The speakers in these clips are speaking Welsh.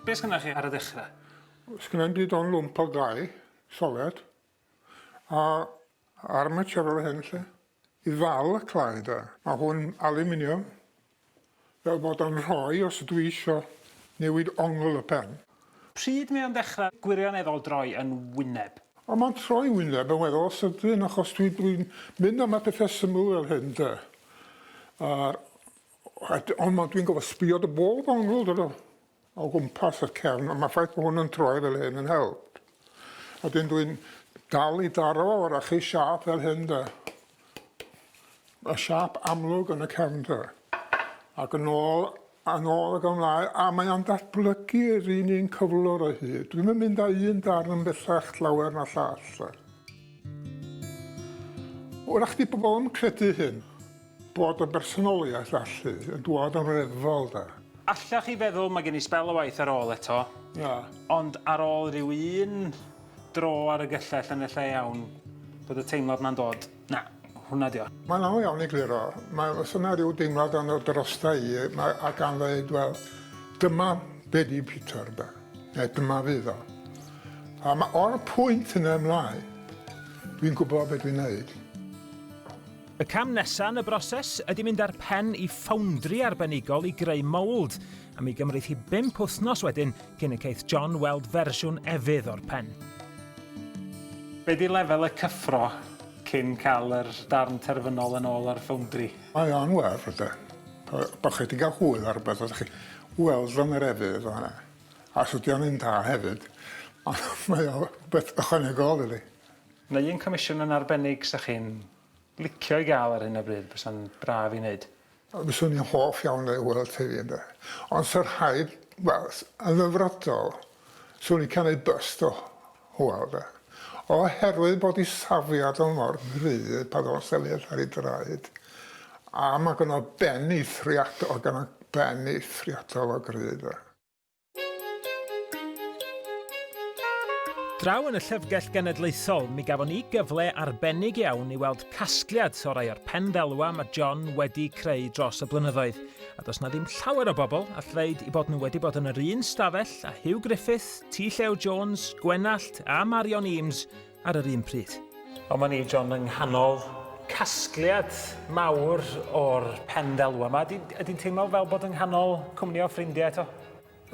Be sgynnoch chi ar y ddechrau? Sgynno'n di don lwmp o gau, solet, a armature o'r hyn lle. I ddal y clai da. Mae hwn aluminium, fel bod o'n rhoi os ydw i isio newid ongl y pen. Pryd mae o'n dechrau gwirioneddol droi yn wyneb? O mae'n troi wyneb yn weddol sydyn achos dwi'n mynd am y pethau syml fel hyn de. A'r Ond ma, dwi'n gofio sbio dy bol bonglod o, o gwmpas y cefn, ond mae ffaith bod hwn yn troi fel hyn yn help. A dyn dwi'n dal i daro fo, fyrach chi siap fel hyn da. Y siap amlwg yn y cefn da. Ac yn ôl, yn ôl ag ymlaen, a mae o'n datblygu yr un un cyflwr o hyd. Dwi'n yn mynd â un darn yn bellach llawer na llall. Wrach di pobl yn credu hyn. Bod yn bersonoliaeth allu yn dwad yn reddfol de. Allech chi feddwl mae gen i sbel o waith ar ôl eto. Na. Ond ar ôl rhyw un dro ar y gyllell yn y lle iawn bod y teimlad na'n dod. Na, hwnna dio. Mae'n anodd iawn i gliro. Mae os yna rhyw deimlad yn dod drosta i mae a gan ddeud wel dyma be di Peter de. Neu dyma fydd o. A ma o'r pwynt yna ymlaen dwi'n gwybod be dwi'n neud. Y cam nesaf yn y broses ydy mynd â'r pen i ffowndri arbenigol i greu mould, a mi gymryd hi bimp wythnos wedyn cyn y ceith John weld fersiwn efydd o'r pen. Be di lefel y cyffro cyn cael yr darn terfynol yn ôl o'r ffowndri? Mae o'n werth de. Bo chi di gael hwyl ar rwbeth a chi weld o yn yr efydd o hynna. A os ydy o'n un da hefyd, mae o rwbeth ychwanegol iddi. Neu'n comisiwn yn arbennig sa chi'n licio i gael ar hyn o bryd, bysa'n braf i wneud. Fyswn i'n hoff iawn o ei weld hefyd ynde. Ond sa rhaid, wel, yn ddyfrydol, swn i'n canu byst o Hywel de. Oherwydd bod ei safiad o mor gryf pan o'dd o'n sefyll ar ei draed, a ma' gynno ben eithriadol, gynno ben eithriadol o gryf de. Draw yn y Llyfrgell Genedlaethol, mi gafon ni gyfle arbennig iawn i weld casgliad o rai o'r pen ddelwa mae John wedi creu dros y blynyddoedd, a does na ddim llawer o bobl all ddeud i bod nhw wedi bod yn yr un stafell a Hugh Griffith, T Llew Jones, Gwenallt a Marion Eames ar yr un pryd. Ond mae ni, John, yng nghanol casgliad mawr o'r pen ddelw yma. Ydy, ydy'n teimlo fel bod yng nghanol cwmni o ffrindiau eto?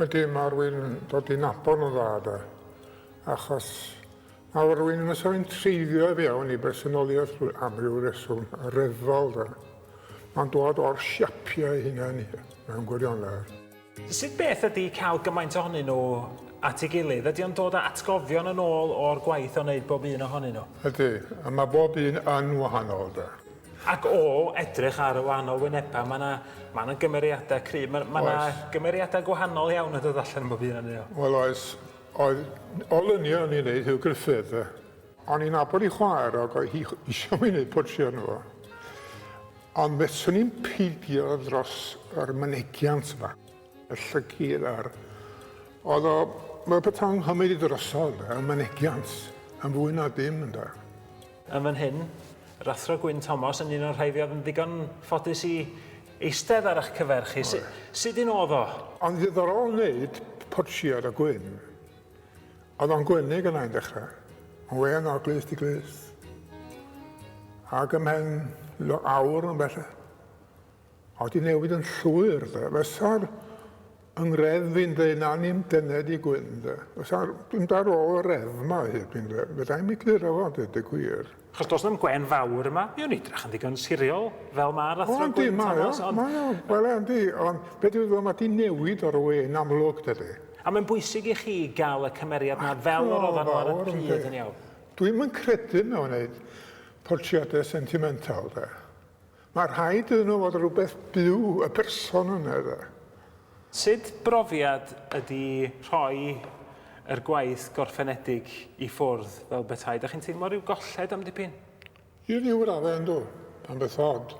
Ydy, mae rwy'n dod i'n nabod nhw'n dda, da. Achos mae rwy'n yn ysgrifennu'n treiddio i fewn i bersonoliaeth am ryw reswm ryfel, da. Mae'n dod o'r siapiau hunain mewn gwirionedd. Sut beth ydi cael gymaint ohonyn nhw at ei gilydd? Ydi o'n dod â atgofion yn ôl o'r gwaith o wneud bob un ohonyn nhw? Ydi, a mae bob un yn wahanol 'de. Ac o edrych ar y wahanol wynebau mae 'na mae 'na gymeriadau cryf. Mae mae 'na gymeriadau gwahanol iawn yn dod allan yn bob un ohonyn nhw. Wel oes. Oedd n- olynion o'n i'n neud Huw Gruffydd 'de. O'n i'n nabod ei chwaer ac oedd hi eisiau mi wneud portread arno fo. Ond fyswn i'n peidio dros yr mynegiant yma. Y llygid a'r... Oedd o... Mae pethau'n nghymryd i drosodd, y mynegiant, yn fwy na dim, ynde. Yn fan hyn, yr Athro Gwyn Thomas yn un o'r rhai fi oedd yn ddigon ffodus i eistedd ar eich cyfer chi. Sut un oedd o? O'n ddiddorol wneud portread o Gwyn. Oedd o'n gwynig yna i'n dechrau. Ond wên o glust i glust. Ac ym mhen awr yn bell. Oedd di newid yn llwyr de. Fysa'r yng ngref fi'n dweud na ni'n dened i gwyn de. Fysa'r, dwi'n dar ôl y ref ma hyd fi'n dweud. Fydda i'n mi gliro fo dweud y gwir. Achos does na'm gwên fawr yma. Mi o'n idrach yn ddigon siriol, fel ma'r athro Gwyn Thomas. Ond... Mae o, wel yndi, ond be dwi'n feddwl, mae di newid o'r we yn amlwg, dydy. A mae'n bwysig i chi gael y cymeriad na fel yr oedden nhw ar y pryd yn iawn. Dwi'm yn credu mewn neud portreadau sentimental, de. Mae rhaid iddyn nhw fod rhywbeth byw, y person yna, de. Sut brofiad ydy rhoi yr gwaith gorffenedig i ffwrdd fel petai? Dach chi'n teimlo rhyw golled am dipyn? Ie, ryw raddau yndw. Mae'n beth od.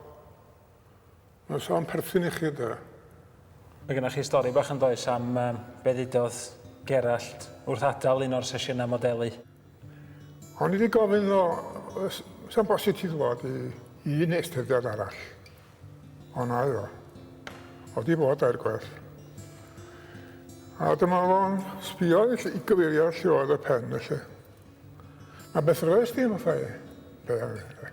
Mae'n sôn perthyn i chi, de. Mae gennych chi stori bach yn does am be ddudodd Gerallt wrth adael un o'r sesiynau modelu? O'n i 'di gofyn iddo yy s- sa'n bosib ti ddwad i i un estyniad arall. Ond na oedd o. O'dd 'di bod dair gwaith. A dyma fo'n sbïo i ll- i gyfeirio lle oedd y pen felly. A beth roes di fatha i? Be' oedd e?